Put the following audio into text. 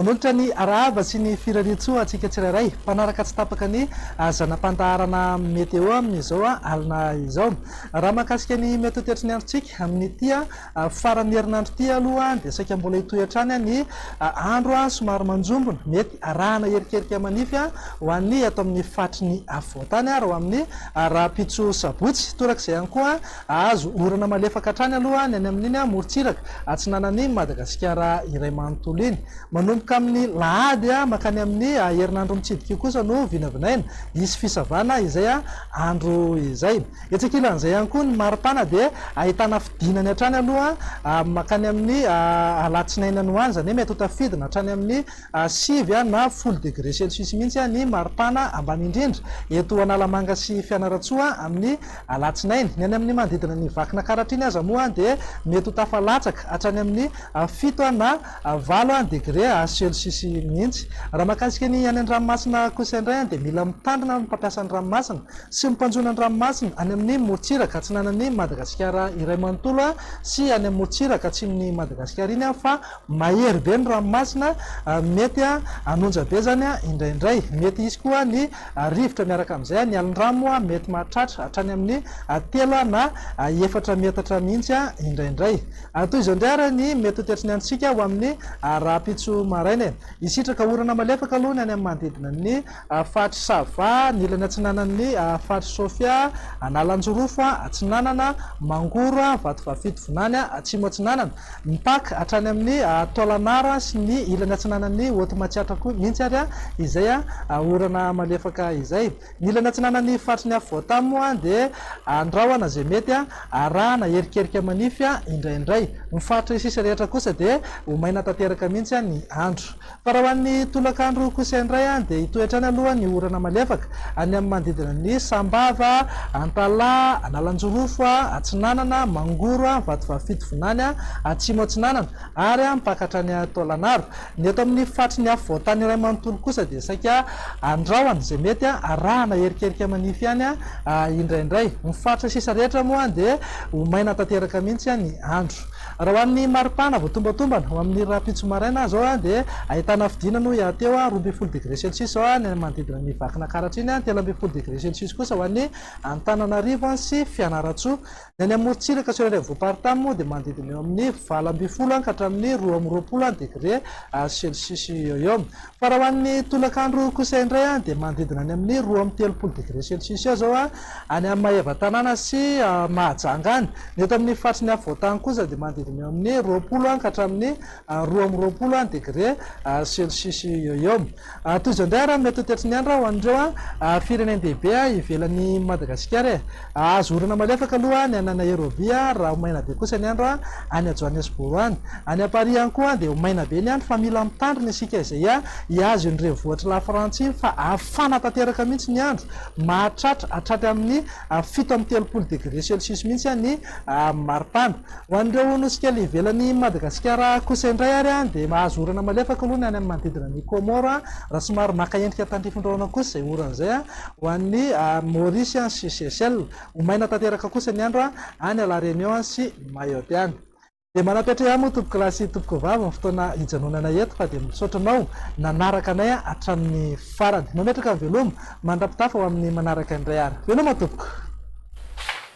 Manolotra ny arahaba sy ny firarian-tsoa antsika tsirairay mpanaraka tsy tapaka ny ah, zana-pandaharana Meteo amin'izao ah, alina izao. Raha mahakasika ny Meteo teatry ny androntsika amin'ity ah, Faran'ny herinandro ity aloha dia saika mbola hitohy hatrany ny andro somary manjombona. Mety arahana erikerika manify ho an'ny eto amin'ny faritry ny afovoantany ary ho amin'ny rahampitso sabotsy. Torak'izay ihany koa, hahazo orana malefaka hatrany aloha ny any amin'iny morontsiraka atsinanan'i Madagasikara iray manontolo iny. Manomboka amin'ny lahady mankany amin'ny herinandro mitsidika io kosa no vinavinaina hisy fisavana izay andro izay. Etsy ankilan'izay ihany koa ny mari-pana dia ahitana fidinany hatrany aloha mankany amin'ny alatsinainy any ho any, izany hoe mety ho tafidina hatrany amin'ny sivy na folo degre celsius mihitsy ny mari-pana ambany indrindra eto Analamanga sy Fianarantsoa amin'ny alatsinainy. Ny any amin'ny manodidina ny Vakinankaratra iny aza moa dia mety ho tafalatsaka hatrany amin'ny fito na valo degre celsius mihitsy. Raha mahakasika ny any an-dranomasina kosa indray dia mila mitandrina ny mpampiasa ny ranomasina sy ny mpanjono ny ranomasina any amin'ny morontsiraka atsinanan'i Madagasikara iray manontolo sy any amin'ny morontsiraka atsimon'i Madagasikara iny fa mahery be ny ranomasina mety hanonja be izany indraindray mety hisy koa ny rivotra miaraka amin'izay ny alin-drano mety mahatratra hatrany amin'ny telo na efatra metatra mihitsy indraindray Ary toy izao indray ary ny mety ho toetry ny antsika ho amin'ny rahampitso maraina e! Hisitraka orana malefaka aloha ny any amin'ny manodidina ny faritry Sava, ny ilany atsinanan'ny faritry Sofia, Analanjirofo atsinanana, Mangoro, Vatovavy-fito Vinany atsimo atsinanana, mipaka hatrany amin'ny Tôlanara sy ny ilany atsinanan'ny Haute Matsiatra koa mihitsy ary izay orana malefaka izay. Ny ilany atsinanan'ny faritry ny afo voatavo moa dia andrahona izay mety arahana erikerika manify indraindray. Ny faritra isisa rehetra kosa dia ho maina tanteraka mihitsy ny andro. Fa raha ho an'ny tolakandro kosa indray dia hitohy hatrany aloha ny orana malefaka any amin'ny manodidina an'i Sambava, Antalaha, Analanjirofo atsinanana, Mangoro, Vatovavy Fitovinany atsimo atsinanana ary mpaka hatrany Taolagnaro. Ny eto amin'ny faritry ny afo voantany iray manontolo kosa dia saika andrahona izay mety arahana erikerika manify ihany indraindray. Ny faritra sisa rehetra moa dia ho maina tanteraka mihitsy ny andro. Raha ho an'ny maripana vao tombantombana, ho amin'ny rahampitso maraina izao dia ahitana hafidiana no hiateho roa ambin'ny folo degré celsius izao any amin'ny manodidina an'i Vakinankaratra iny, telo ambin'ny folo degré celsius kosa ho an'i Antananarivo sy Fianarantsoa. Ny any amorontsiraka sur any afovoam-paritany moa dia manodidina eo amin'ny valo ambin'ny folo any ka hatramin'ny roa amby roapolo any degré celcius eo eo. Fa raha ho an'ny tolakandro kosa indray dia manodidina any amin'ny roa amby telopolo degré celcius eo izao any amin'ny Maevatanàna sy Mahajanga any. Ny eto amin'ny faritry ny afovoan-tany kosa dia manodidina eo amin'ny roapolo any ka hatramin'ny roa amby roapolo any degré celcius eo eo. Toy izao indray ary mety ho tetry ny andro ho an'ireo firenen-dehibe ivelan'i Madagasikara e! Azo orana malefaka aloha ny any Nairobi raha ho maina be kosa ny andro any Johannesburg any. Any Paris ihany koa dia ho maina be ny andro fa mila mitandrina isika izay hihazo iny renivohitr'i Lafrantsa iny fa hafana tanteraka mihitsy ny andro, mahatratra hatraty amin'ny fito amby telopolo degre celsius mihitsy ny maripana. Ho an'ireo nosy kely ivelan'i Madagasikara kosa indray ary dia mahazo orana malefaka aloha ny any amin'ny manodidina an'i Comore raha somary maka endrika tandrifin-drahona kosa izay orana izay ho an'i Maurice sy Seychelles. Ho maina tanteraka kosa ny andro any La Réunion sy Mayotte any. Dia manapetrea moa tompokolahy sy tompokovavy ny fotoana hijanonanay eto fa dia misaotra anao nanaraka anay hatramin'ny farany. Mametraka ny veloma mandrapitafa ho amin'ny manaraka indray ary. Veloma tompoko!